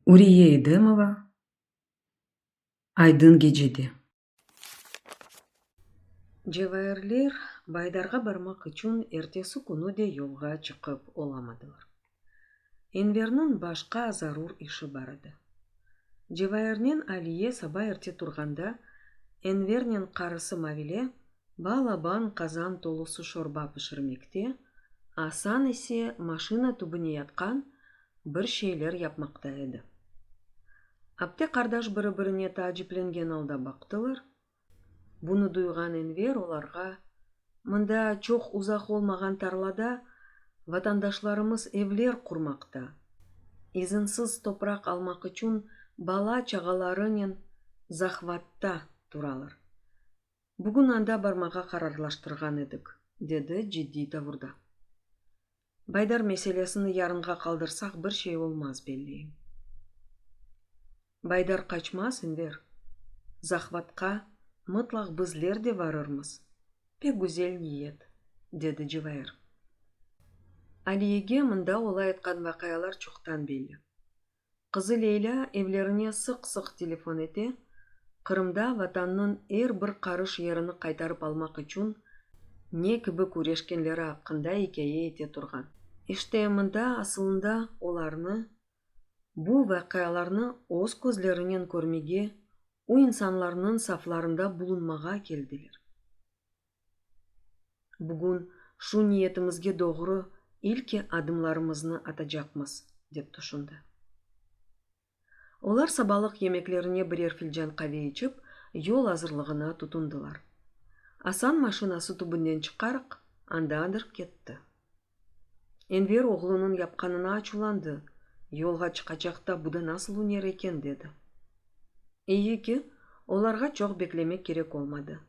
Uriye Edemova, Aydın gecede. Cevahirler Baydarğa barmaq içün ertesi künü de yolğa çıqıp olamadılar. Enverniñ başqa zarur işi bar edi. Cevahirnen Aliye saba erte turğanda, Envernen qarısı Mavile balaban qazan tolusı şorba pişirmekte, Asan ise maşina tübüne yatqan bir şeyler yapmaqta edi. Apte qardaş biri-birine taaciplengen alda baqtılar. Bunı duyğan Enver olarğa, Mında, çoq uzaq olmağan tarlada, vatandaşlarımız evler qurmaqta, izinsiz topraq almaq içün bala-çağalarınen zahvatta turalar. Bugün anda barmağa qararlaştırğan edik, dedi ciddiy tavurda. Baydar meselesini yarınğa qaldırsaq bir şey olmaz, belli. Baydar qaçmaz, Enver. Zahvatqa mıtlaq bizler de varırmız. Pek güzel niyet, dedi Cıvair. Aliyege mında olay etqan vaqialar çoqtan belli. Qızı Leylâ evlerine sıq-sıq telefon ete, Qırımda Vatannıñ er bir qarış yerini qaytarıp almaq içün ne kibi küreşkenleri aqqında ikâye ete turğan. İşte, mında asılında olarnı, bu vaqialarnı öz közlerinen körmege, o insanlarnıñ saflarında bulunmağa keldiler. Bugün şu niyetimizge doğru ilki adımlarımıznı atacaqmız, dep tüşündi. Olar sabalıq yemeklerine birer filcan qave içip, yol azırlığına tutundılar. Asan maşinası tübünden çıqarq, andaadır ketti. Enver oğlunıñ yapqanına açuvlandı, yolğa çıqacaq da bu da nasıl üner eken, dedi. İyi ki, olarğa çoq beklemek kerek olmadı.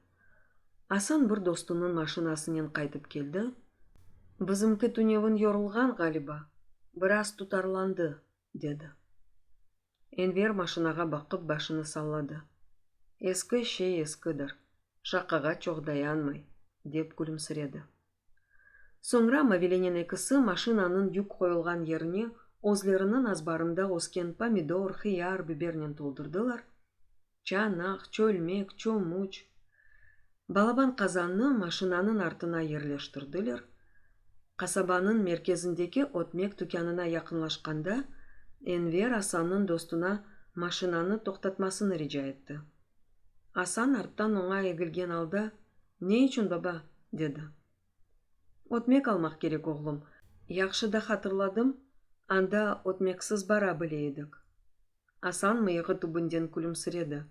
Asan bir dostunıñ maşinasınen qaytıp keldi, Bizimki tünevin yorulğan, ğaliba, biraz tutarlandı, dedi. Enver maşinağa baqıp başını salladı. Eski şey eskidir, şaqağa çoq dayanmay, dep külümsiredi. Soñra Mavilenin ekisi maşinanıñ yük qoyulğan yerini özleriniñ azbarında ösken pomidor, hıyar, bibernen toldurdılar, Çanaq, çölmek, çomuç. Balaban qazannı maşinanıñ artına yerleştirdiler. Qasabanıñ merkezindeki ötmek tükânına yaqınlaşqanda, Enver Asannıñ dostuna maşinanı toqtatmasını rica etti. Asan arttan oña egilgen alda, Ne içün, baba? dedi. Ötmek almaq kerek, oğlum. Yahşı da hatırladım, anda ötmeksiz bara bile edik. Asan mıyığı tübünden külümsiredi.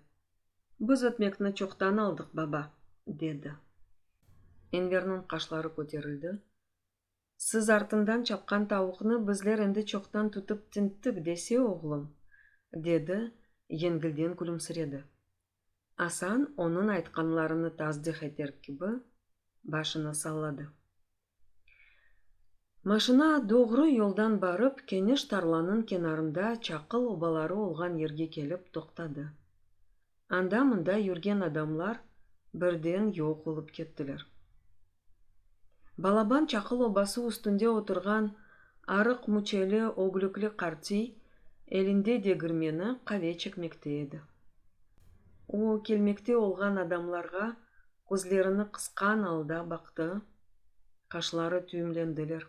Biz ötmekni çoqtan aldıq, baba, dedi. Enverniñ qaşları köterildi. Siz artından çapqan tavuqnı bizler endi çoqtan tutıp tinttik dese, oğlum? dedi, yengilden külümsiredi. Asan, onıñ aytqanlarını tasdih eter kibi, başını salladı. Maşina doğru yoldan barıp, keniş tarlanıñ kenarında çaqıl obaları olğan yerge kelip toqtadı. Anda-mında yürgen adamlar birden yoq olıp kettiler. Balaban çaqıl obası üstünde oturğan arıq müçeli ögülükli qartiy elinde degirmeni qave çekmekte edi. O, kelmekte olğan adamlarğa közlerini qısqan alda baqtı, qaşları tüyümlendiler.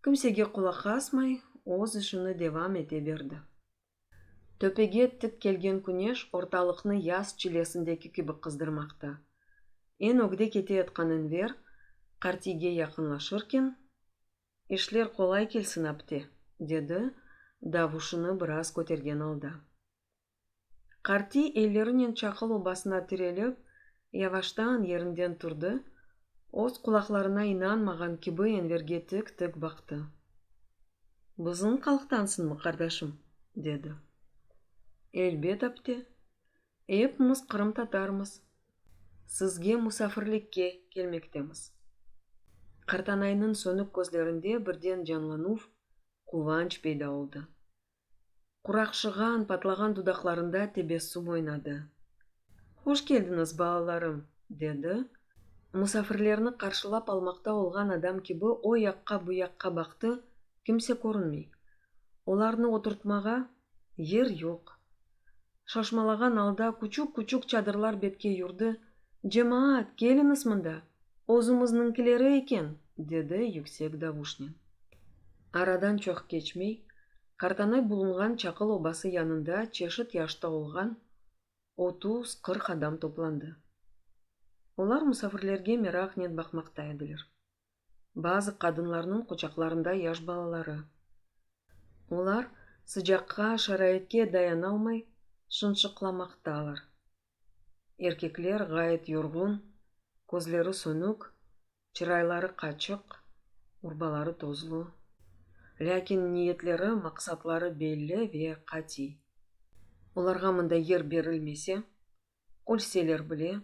Kimsege qulaq asmay, öz işini devam ete berdi. Töpege tik kelgen küneş ortalıqnı yaz çilesindeki kibi qızdırmaqta. Eñ ögde keteyatqan Enver qartiyge yaqınlaşırken, İşler qolay kelsin, apte, dedi, davuşını biraz kötergen alda. Qartiy ellerinen çaqıl obasına tirelip, yavaştan yerinden turdı, öz qulaqlarına inanmağan kibi Enverge tik-tik baqtı. Bızınq alqtansınmı, qardaşım? dedi. Elbet apte. Epimiz qırımtatarmız. Sizge musafirlikke kelmektemiz. Qartanaynıñ sönük közlerinde birden canlanuv, quvanç peyda oldı. Quraqşığan, patlağan dudaqlarında tebessüm oynadı. Hoş keldiñiz, balalarım! dedi. Musafirlerni qarşılap almaqta olğan adam kibi o yaqqa, bu yaqqa baqtı, kimse körünmey. Olarnı oturtmağa yer yoq. Şaşmalağan alda küçük-küçük çadırlar betke yurdi, Cemaat, keliñiz mında! Özümizniñkileri eken! dedi yüksek davuşnen. Aradan çoq keçmey, Qartanay bulunğan çaqıl obası yanında çeşit yaşta olğan otuz, qırq adam toplandı. Olar musafirlerge meraqnen baqmaqta ediler. bazı qadınlarnıñ quçaqlarında yaş balaları. Olar sıcaqqa, şaraitke dayanalmay şınşıqlamaqtalar. Erkekler ğayet yorğun, közleri sönük, çırayları qaçıq, urbaları tozlu. Lâkin niyetleri, maqsatları belli ve qatiy. Olarğa mında yer berilmese, Ölseler bile,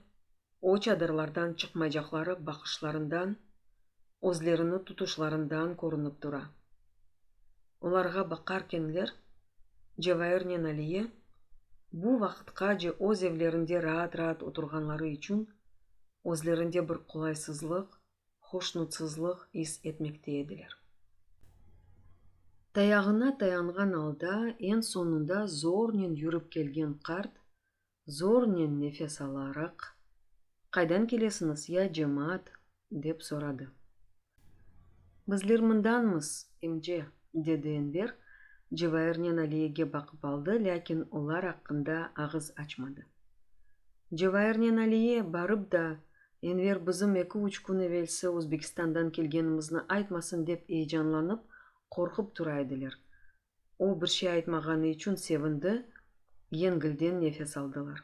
o çadırlardan çıqmaycaqları baqışlarından, özlerini tutuşlarından körünip tura. Olarğa baqarkenler, Cevairnen Aliye, bu vaqıtqace öz evlerinde raat-raat oturğanları içün, özlerinde bir qolaysızlıq, hoşnutsızlıq is etmekte ediler. Tayağına tayanğan alda, eñ soñunda zornen yürip kelgen qart, zornen nefes alaraq, Qaydan kelesiñiz, ya cemaat? dep soradı. Bizler mındanmız, imce, dedi Enver, Cevairnen Aliyege baqıp aldı, lâkin olar aqqında ağız açmadı. Cevairnen Aliye, barıp da, Enver bizim eki-üç kün evelsi Özbekistandan kelgenimizni aytmasın dep eyecanlanıp, qorqıp tura ediler, O bir şey aytmağanı içün sevindi, yengilden nefes aldılar.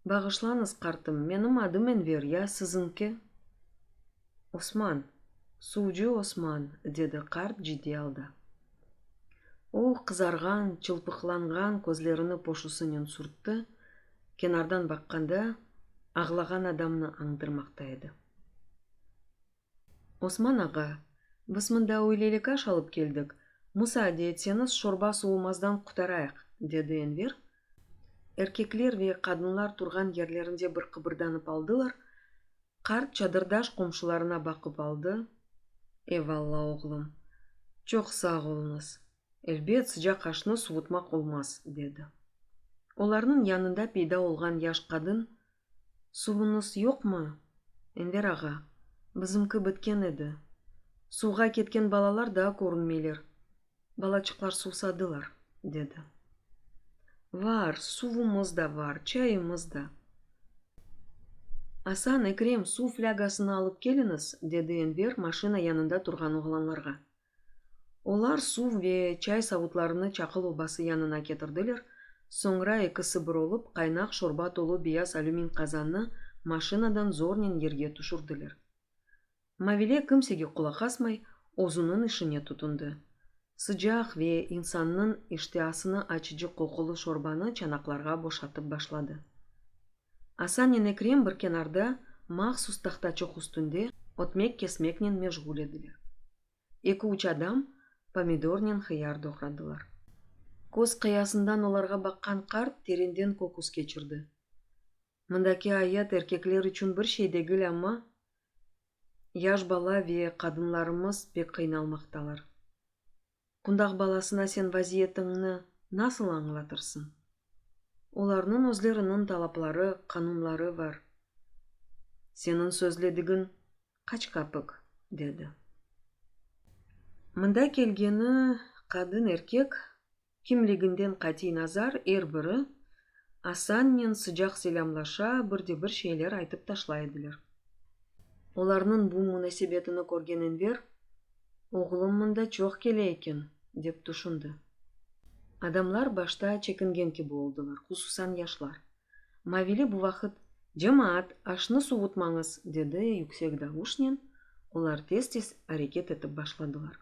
Bağışlañız, qartım, menim adım Enver, ya siziñki? Osman, suvcı Osman, dedi qart ciddiy alda. O qızarğan, çılpıqlanğan közlerini poşusınen sürtti, kenardan baqqanda, ağlağan adamnı añdırmaqta edi. Osman ağa, biz mında öyleylik aş alıp keldik, musaade etseñiz şorba sovumazdan qutarayıq, dedi Enver. Erkekler ve qadınlar turğan yerlerinde bir qıbırdanıp aldılar. Qart çadırdaş qomşularına baqıp aldı, Eyvalla, oğlum, çoq sağ oluñız, elbet, sıcaq aşnı suvutmaq olmaz, dedi. Olarnıñ yanında peyda olğan yaş qadın Suvuñız yoqmı, Enver ağa? Bizimki bitken edi. Suvğa ketken balalar daa körünmeyler. Balaçıqlar suvsadılar, dedi. Var, suvumız da var, çayımız da. Asan, Ekrem, suv flâgasını alıp keliñiz, dedi Enver maşina yanında turğan oğlanlarğa. Olar suv ve çay savutlarını Çaqıl obası yanına ketirdiler, soñra ekisi bir olup, qaynaq şorba tolu beyaz alümin qazannı maşinadan zornen yerge tüşürdiler. Mavile kimsege qulaq asmay, özüniñ işine tutundı. Sıcaq ve insannıñ iştiasını açıcı qoqulı şorbanı çanaqlarğa boşatıp başladı. Asanen Ekrem bir kenarda mahsus tahtaçıq üstünde ötmek-kesmeknen meşğul ediler. Eki-üç adam pomidornen hıyar doğradılar. Köz qıyasından olarğa baqqan qart terenden köküs keçirdi. Mındaki ayet erkekler içün bir şey degil, amma yaş bala ve qadınlarımız pek qıynalmaqtalar. Qundaq balasına sen vaziyetiñni nasıl añlatırsıñ? Olarnıñ özleriniñ talapları, qanunları bar. Seniñ sözledigiñ qaç kapik? dedi. Mında kelgeni qadın, erkek, kimliginden qatiy nazar, er biri Asannen sıcaq selâmlaşa, bir de bir şeyler aytıp taşlay ediler. Olarnıñ bu munasebetini körgen Enver. Oğlum mında çoq kele eken, dep tüşündi. Adamlar başta çekingen kibi oldılar, hususan yaşlar. Mavili bu vaqıt, Cemaat, aşnı suvutmañız! dedi yüksek davuşnen, olar tez-tez areket etip başladılar.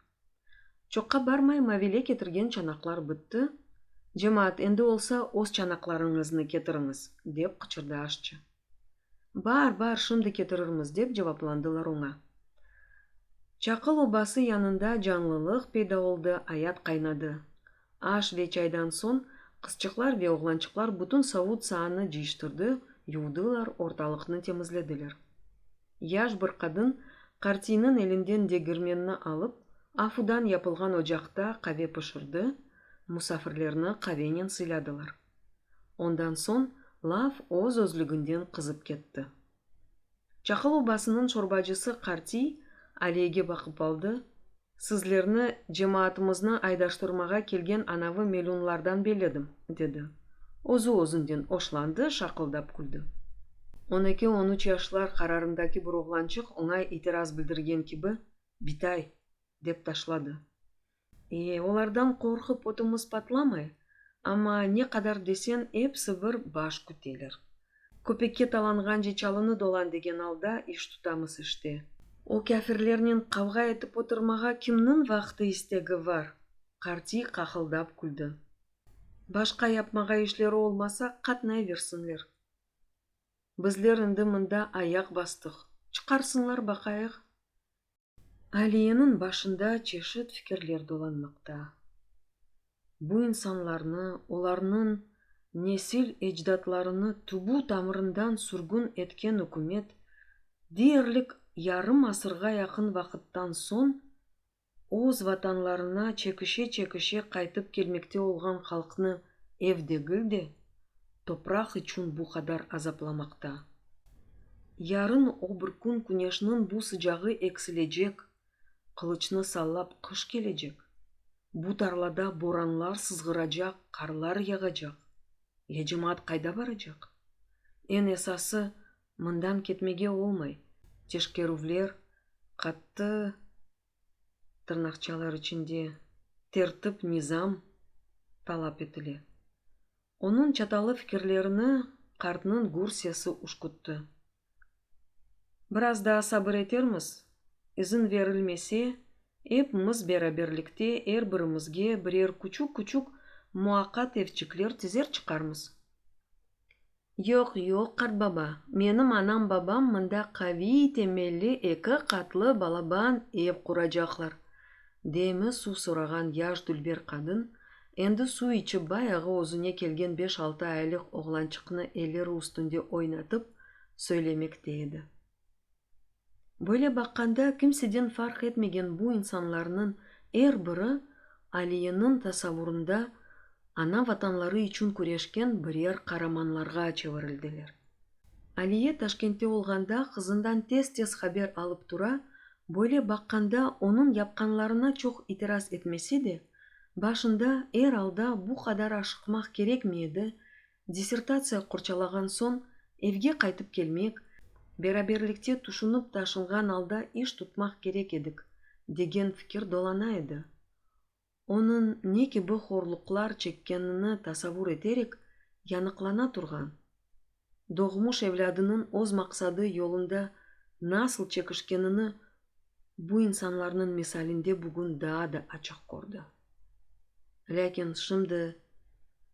Çoqqa barmay Mavile ketirgen çanaqlar bitti, Cemaat, endi olsa öz çanaqlarıñıznı ketiriñiz! dep qıçırdı aşçı. Bar, bar, şimdi ketirirmiz, dep cevaplandılar oña. Çaqıl obası yanında canlılıq peyda oldı, ayat qaynadı. Aş ve çaydan soñ qızçıqlar ve oğlançıqlar bütün savut-saanı cıyıştırdı, yuvdılar, ortalıqnı temizlediler. Yaş bir qadın qartiyniñ elinden degirmenni alıp, afudan yapılğan ocaqta qave pişirdi, musafirlerni qavennen sıyladılar. Ondan soñ laf öz-özlüginden qızıp ketti. Çaqıl obasınıñ çorbacısı Qartiy Aliyege baqıp aldı, Sizlerni cemaatımıznı aydaştırmağa kelgen anavı melünlardan belledim, dedi. Özü özünden oşlandı, şaqıldap küldi. On eki, on üç yaşlar qararındaki bir oğlançıq oña itiraz bildirgen kibi, Bitay! dep taşladı. Olardan qorqıp ödümüz patlamay, amma ne qadar desen, episi bir baş küteler. Köpekke talanğance çalını dolan degen alda iş tutamız işte. O kâfirlernen qavğa etip oturmağa kimniñ vaqtı istegi var? Qartiy qaqıldap küldi. Başqa yapmağa işleri olmasa, qatnayversinler. Bizler indi mında ayaq bastıq, çıqarsınlar baqayıq. Aliyeniñ başında çeşit fikirler dolanmaqta. Bu insanlarnı, olarnıñ nesil-ecdatlarını tübü-tamırından sürgün etken ükümet, deyerlik yarım asırğa yaqın vaqıttan soñ öz vatanlarına çekişe-çekişe qaytıp kelmekte olğan halqnı ev degil de, Topraq içün bu qadar azaplamaqta. Yarın o bir kün küneşniñ bu sıcağı eksilecek, qılıçnı sallap qış kelecek, bu tarlada boranlar sızğıracaq, qarlar yağacaq, ya cemaat qayda baracaq? Eñ esası, mından ketmege olmay, teşkerüvler, qattı tırnaqçalar içinde, tertip-nizam talap etile. Onıñ çatallı fikirlerini qartnıñ gür sesi uşkuttı. Biraz daa sabır etermiz, izin verilmese, epimiz beraberlikte er birimizge birer küçük-küçük muaqat evçikler tizer çıqarmız. Yoq, yoq, qartbaba, menim anam-babam mında qaviy temelli eki qatlı balaban ev quracaqlar, demi suv sorağan yaş dülber qadın, endi suv içip bayağı özüne kelgen beş-altı aylık oğlançıqnı elleri üstünde oynatıp, söylemekte edi. Böyle baqqanda, kimseden farq etmegen bu insanlarnıñ er biri Aliyeniñ tasavurında ana vatanları içün küreşken birer qaramanlarğa çevirildiler. Aliye Taşkentte olğanda qızından tez-tez haber alıp tura, böyle baqqanda onıñ yapqanlarına çoq itiraz etmese de, başında er alda bu qadar aşıqmaq kerekmi edi, Dissertatsiya qorçalağan soñ evge qaytıp kelmek, beraberlikte tüşünip taşınğan alda iş tutmaq kerek edik, degen fikir dolana edi. Onıñ ne kibi horluqlar çekkenini tasavur eterek, yanıqlana turğan, doğmuş evlâdınıñ öz maqsadı yolunda nasıl çekişkenini bu insanlarnıñ misalinde bugün daa da açıq kördi. Lâkin şimdi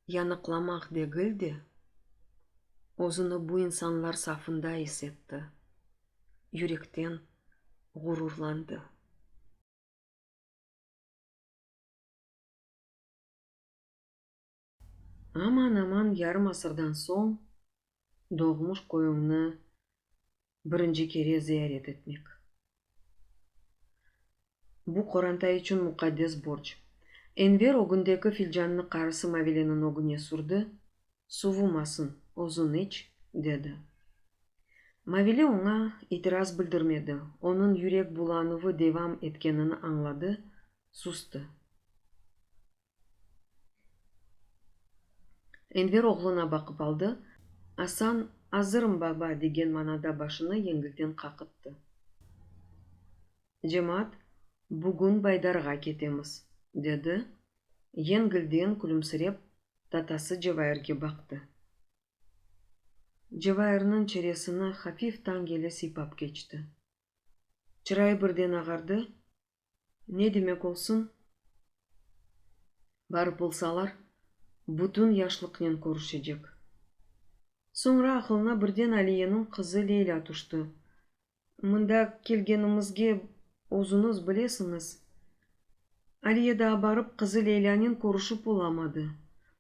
yanıqlamaq degil de, özüni bu insanlar safında is etti, yürekten ğururlandı. Aman-aman yarım asırdan soñ doğmuş köyüñni birinci kere ziyaret etmek, bu, qoranta içün muqaddes borc. Enver ögündeki filcannı qarısı Mavileniñ ögüne sürdi, Suvumasın, özüñ iç, dedi. Mavili oña itiraz bildirmedi, onıñ yürek bulanuvı devam etkenini añladı, sustı. Enver oğluna baqıp aldı. Asan, Azırım, baba! degen manada başını yengilden qaqıttı. Cemaat, Bugün Baydarğa ketemiz, dedi, yengilden külümsirep, tatası Cevairge baqtı. Cevairniñ çeresini hafif tañ yeli sıypap keçti. Çırayı birden ağardı, Ne demek olsun, barıp olsalar, bütün yaşlıqnen körüşecek. Soñra aqılına birden Aliyeniñ qızı Leylâ tüşti. Mında kelgenimizge özüñiz bilesiñiz. Aliye daa barıp qızı Leylânen körüşip olamadı.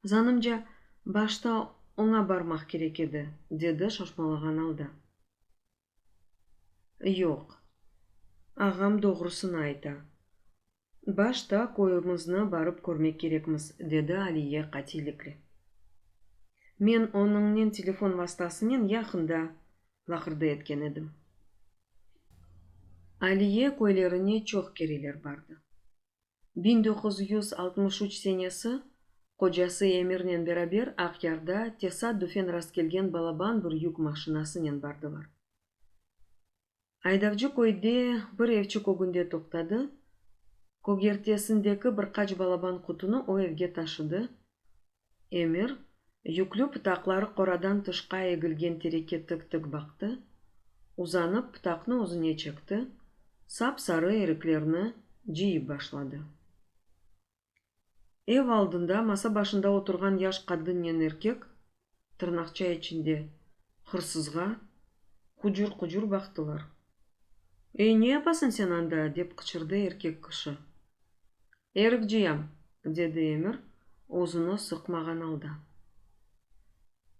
Zanımca, başta oña barmaq kerek edi, dedi şaşmalağan alda. Yoq, ağam doğrusını ayta. Başta köyümizni barıp körmek kerekmiz, dedi Aliye qatillikle. Men onıñnen telefon vastasınen yaqında laqırdı etken edim. Aliye köylerine çoq kereler bardı. Biñ doquz yüz altmış üç senesi qocası Emirnen beraber Aqyarda tesaddufen rastkelgen balaban bir yük maşinasınen bardılar. Aydavcı köyde bir evçik ögünde toqtadı, kögertesindeki bir qaç balaban qutunı o evge taşıdı, Emir, yüklü pıtaqları qoradan tışqa egilgen tereke tık-tık baqtı, uzanıp pıtaqnı özüne çekti, sap-sarı eriklerni cıyıp başladı. Ev aldında masa başında oturğan yaş qadınnen erkek, tırnaqça içinde, hırsızğa qucur-qucur baqtılar. Ey, ne yapasın sen anda? dep qıçırdı erkek kişi. Erikciyem, dedi Emir, özüni sıqmağan alda.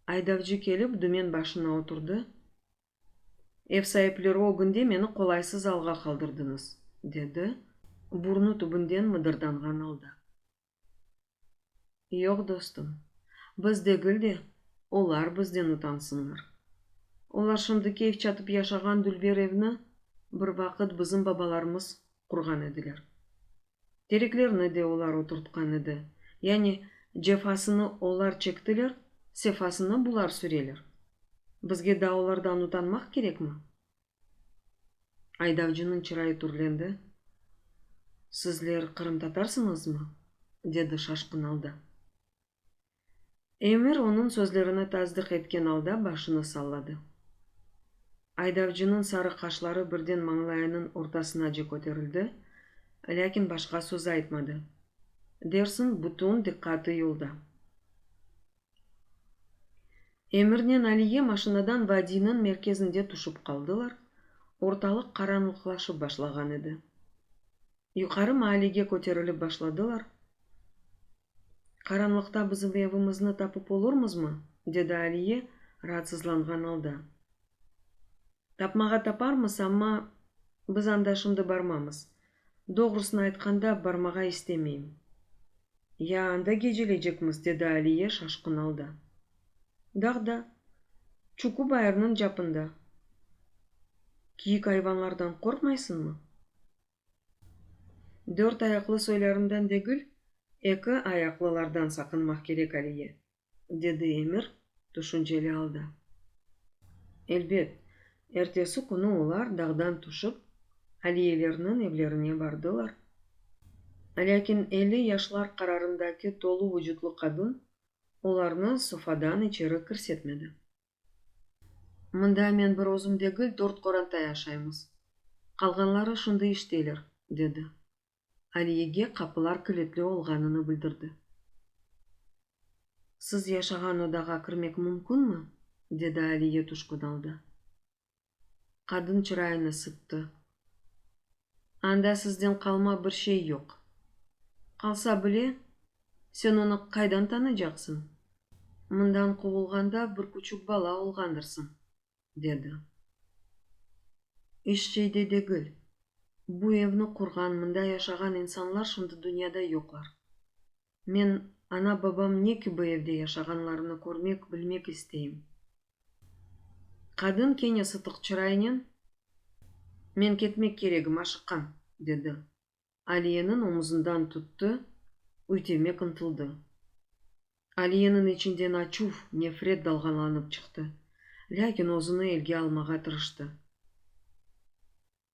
Aydavcı kelip, dümen başına oturdı. Ev saipleri ögünde meni qolaysız alğa qaldırdıñız, dedi, burnu tübünden mıdırdanğan alda. Yoq, dostum, biz degil de, olar bizden utansınlar. Olar şimdi keyf çatıp yaşağan dülber evni bir vaqıt bizim babalarımız qurğan ediler. Tereklerni de olar oturtqan edi, yani cefasını olar çektiler, sefasını bular süreler. Bizge dağlardan utanmaq kerekmi? Aydavcınıñ çırayı türlendi. Sizler qırımtatarsıñızmı? dedi şaşqın alda. Emir onıñ sözlerini tasdıq etken alda başını salladı. Aydavcınıñ sarı qaşları birden mañlayınıñ ortasınace köterildi, lâkin başqa söz aytmadı. Dersiñ, bütün diqqatı yolda. Emirnen Aliye maşinadan vadiyniñ merkezinde tüşip qaldılar, ortalıq qaranlıqlaşıp başlağan edi. Yuqarı maallege köterilip başladılar, Qaranlıqta bizim evimizni tapıp olurmızmı? dedi Aliye raatsızlanğan alda. Tapmağa taparmız, amma biz anda şimdi barmamız. Doğrusını aytqanda, barmağa istemeyim. Ya anda gecelecekmiz? dedi Aliye şaşqın alda. Dağda, Çuku bayırnıñ capında. Kiyik ayvanlardan qorqmaysıñmı? Dört ayaqlı soylârinden degil, eki ayaqlılardan saqınmaq kerek aliye, dedi Emir tüşünceli alda. Elbet, ertesi künü olar dağdan tüşip, Aliyelerniñ evlerine bardılar. Lâkin elli yaşlar qararındaki tolu vucutlı qadın olarnı sofadan içeri kirsetmedi. Mında men bir özüm degil, dört qoranta yaşaymız. Qalğanları şimdi işteyler, dedi. Aliyege qapılar kilitli olğanını bildirdi. Siz yaşağan odağa kirmek mümkünmi? dedi Aliye tüşkün alda. Qadın çırayını sıttı. Anda sizden qalma bir şey yoq. Qalsa bile, sen onı qaydan tanıycaqsıñ? Mından quvulğanda bir küçük bala olğandırsıñ, dedi. Eş şey de degil. Bu evni qurğan, mında yaşağan insanlar şimdi dünyada yoqlar. Men ana-babam ne kibi evde yaşağanlarını körmek, bilmek isteyim. Qadın kene sıtıq çıraynen, Men ketmek keregim, aşıqqan, dedi. Aliyeniñ omuzından tuttı, üytemek ıntıldı. Aliyeniñ içinden açuv, nefret dalğalanıp çıqtı, lâkin özüni elge almağa tırıştı.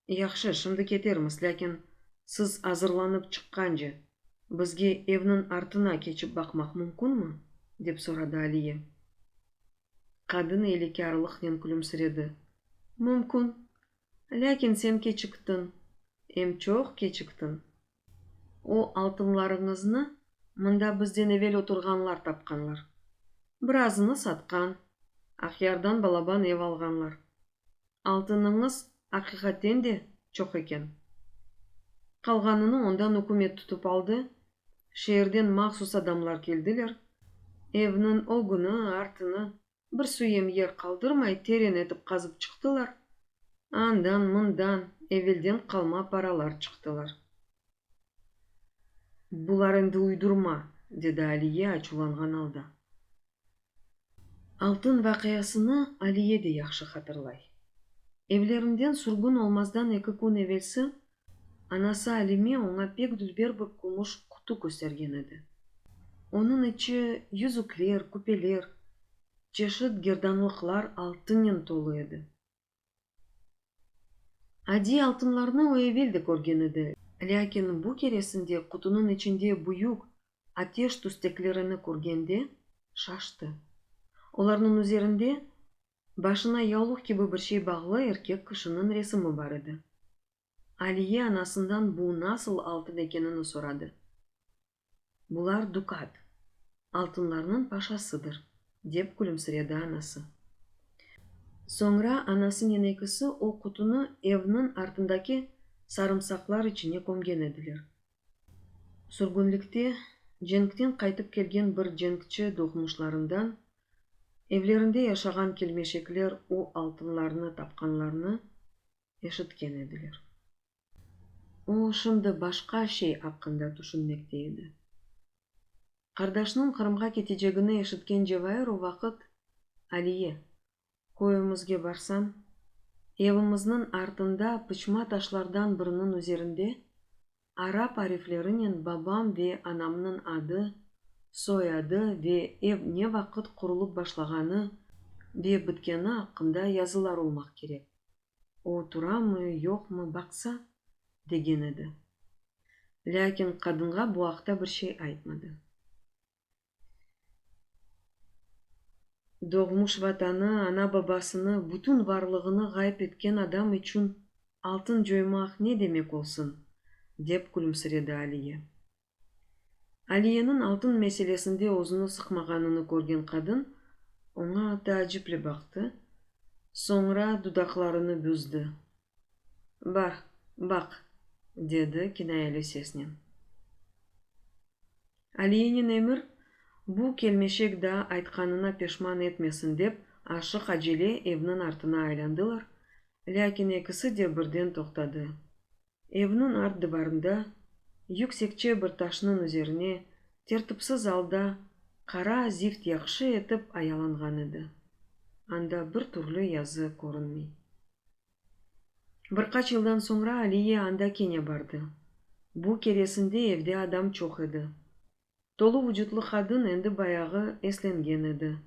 Yahşı, şimdi ketermiz, lâkin siz azırlanıp çıqqance, bizge evniñ artına keçip baqmaq mümkünmi? dep soradı Aliye. Qadın iylekârlıqnen külümsiredi. Mümkün. Lâkin sen keçiktiñ, em çoq keçiktiñ. O altınlarıñıznı mında bizden evel oturğanlar tapqanlar. Bir azını satqan, Aqyardan balaban ev alğanlar. Altınıñız aqiqaten de çoq eken. Qalğanını ondan ükümet tutıp aldı, şeerden mahsus adamlar keldiler, evniñ o künü artını Bir süyem yer qaldırmay teren etip qazıp çıqtılar. Andan, mından evelden qalma paralar çıqtılar. Bular endi uydurma, dedi Aliye açuvlanğan alda. Altın vaqiasını Aliye de yahşı hatırlay. Evlerinden sürgün olmazdan eki kün evelsi Anası Alime oña pek dülber bir kümüş qutu köstergen edi. Onıñ içi yüzükler, küpeler, çeşit gerdanlıqlar altınnen tolu edi. Adiy altınlarnı o evel de körgen edi, lâkin bu keresinde qutunıñ içinde büyük ateş tüsteklerini körgende şaştı. Olarnıñ üzerinde Başına yaulık kibi bir şey bağlı erkek kişiniñ resimi bar edi. Aliye anasından bu nasıl altın ekenini soradı. Bular dukat, altınlarnıñ paşasıdır, dep külümsiredi anası. Soñra anasıñ enekisi o qutunı evniñ artındaki sarımsaqlar içine kömgen ediler. Sürgünlikte cenkten qaytıp kelgen bir cenkçi doğmuşlarından evlerinde yaşağan kelmeşekler o altınlarnı tapqanlarını eşitken ediler. O, şimdi başqa şey aqqında tüşünmekte edi. Qardaşnıñ Qırımğa ketecegini eşitken Cevair o vaqıt Aliye, Köyümizge barsañ, evimizniñ artında pıçma taşlardan biriniñ üzerinde arap ariflerinen babam ve anamnıñ adı, soyadı ve ev ne vaqıt qurulıp başlağanı ve bitkeni aqqında yazılar olmaq kerek. O turamı, yoqmı, baqsa, degen edi. Lâkin qadınğa bu aqta bir şey aytmadı. Doğmuş Vatanı, ana-babasını, bütün varlığını ğayıp etken adam içün altın coymaq ne demek olsun? dep külümsiredi Aliye. Aliyeniñ altın meselesinde özüni sıqmağanını körgen qadın oña taaciple baqtı, soñra dudaqlarını büzdi, Bar, baq, dedi kinayeli sesnen. Aliyenin emir bu kelmeşek daa aytqanına peşman etmesin dep aşıq acele evniñ artına aylandılar, lâkin ekisi de birden toqtadı. Evniñ art divarında, yüksekçe bir taşnıñ üzerine, tertipsiz alda qara zift yahşı etip ayalanğan edi. Anda bir türlü yazı körünmey. Bir qaç yıldan soñra Aliye anda kene bardı. Bu keresinde evde adam çoq edi. Tolu vucutlı qadın endi bayağı eslengen edi.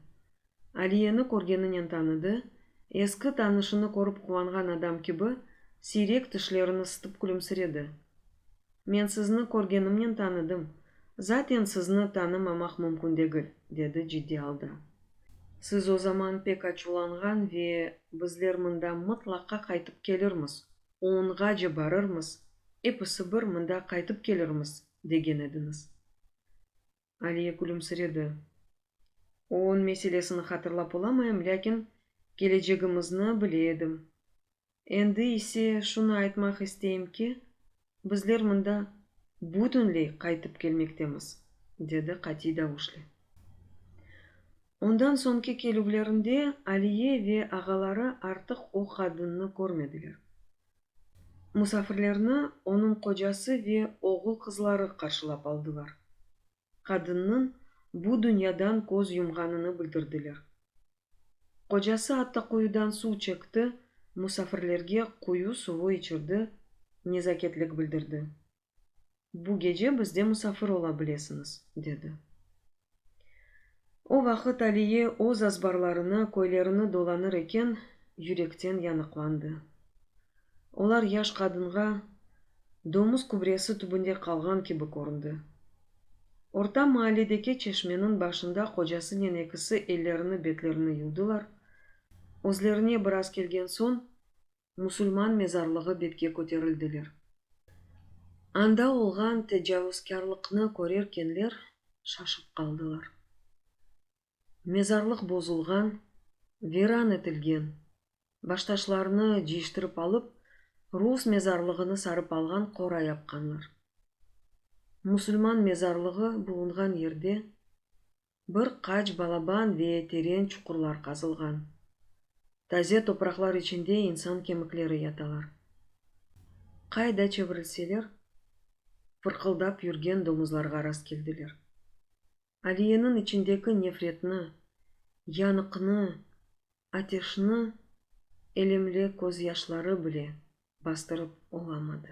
Aliyeni körgeninen tanıdı, eski tanışını körip quvanğan adam kibi, siyrek tişlerini sıtıp külümsiredi. Men sizni körgenimnen tanıdım. Zaten sizni tanımamaq mümkün degil, dedi ciddiy alda. Siz o zaman pek açuvlanğan ve bizler mında mıtlaqa qaytıp kelirmiz, oonğace barırmız, episi bir mında qaytıp kelirmiz, degen ediñiz. Aliye külümsiredi. Oon meselesini hatırlap olamayım, lâkin kelecegimizni bile edim. Endi ise şunı aytmaq isteyim ki, bizler mında bütünley qaytıp kelmektemiz, dedi qatiy davuşle. Ondan soñki kelüvlerinde Aliye ve ağaları artıq o qadınnı körmediler. Musafirlerni onıñ qocası ve oğul-qızları qarşılap aldılar. Qadınnıñ bu dünyadan köz yumğanını bildirdiler. Qocası atta quyudan suv çekti, musafirlerge quyu suvu içirdi, nezaketlik bildirdi. Bu gece bizde musafir ola bilesiñiz, dedi. O vaqıt Aliye öz azbarlarını, köylerini dolanır eken, yürekten yanıqlandı. Olar yaş qadınğa domuz kübresi tübünde qalğan kibi köründi. Orta maalledeki çeşmeniñ başında qocasınen ekisi ellerini-betlerini yuvdılar, özlerine biraz kelgen soñ, musulman mezarlığı betke köterildiler. Anda olğan tecavuzkârlıqnı körerkenler şaşıp qaldılar. Mezarlıq bozulğan, viran etilgen, baştaşlarını ciyiştirip alıp, rus mezarlığını sarıp alğan qora yapqanlar. Musulman mezarlığı bulunğan yerde bir qaç balaban ve teren çuqurlar qazılğan. Taze topraqlar içinde insan kemikleri yatalar. Qay da çevirilseler, fırqıldap yürgen domuzlarğa rastkeldiler. Aliyeniñ içindeki nefretni, yanıqnı, ateşni elemli közyaşları bile bastırıp olamadı.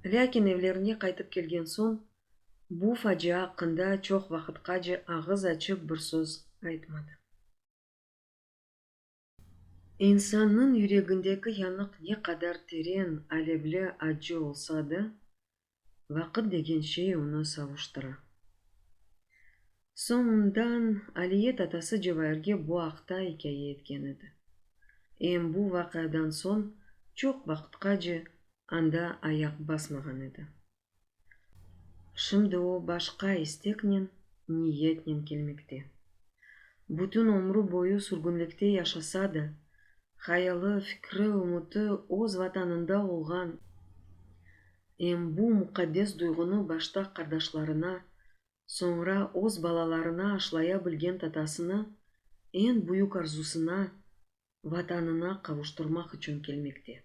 Lâkin evlerine qaytıp kelgen soñ bu facia aqqında çoq vaqıtqace ağız açıp bir söz aytmadı. İnsannıñ yüregindeki yanıq ne qadar teren, alevli, accı olsa da, vaqıt degen şey onı savuştıra. Soñundan Aliyet atası Cevairge bu aqta ikâye etken edi. Em bu vaqiadan soñ çoq vaqıtqace anda ayaq basmağan edi. Şimdi o başqa isteknen, niyetnen kelmekte. Bütün ömrü boyu sürgünlikte yaşasa da, hayalı, fikri, ümüti öz Vatanında olğan. Em bu muqaddes duyğunı başta qardaşlarına, soñra öz balalarına aşlaya bilgen tatasını eñ büyük arzusına, Vatanına qavuştırmaq içün kelmekte.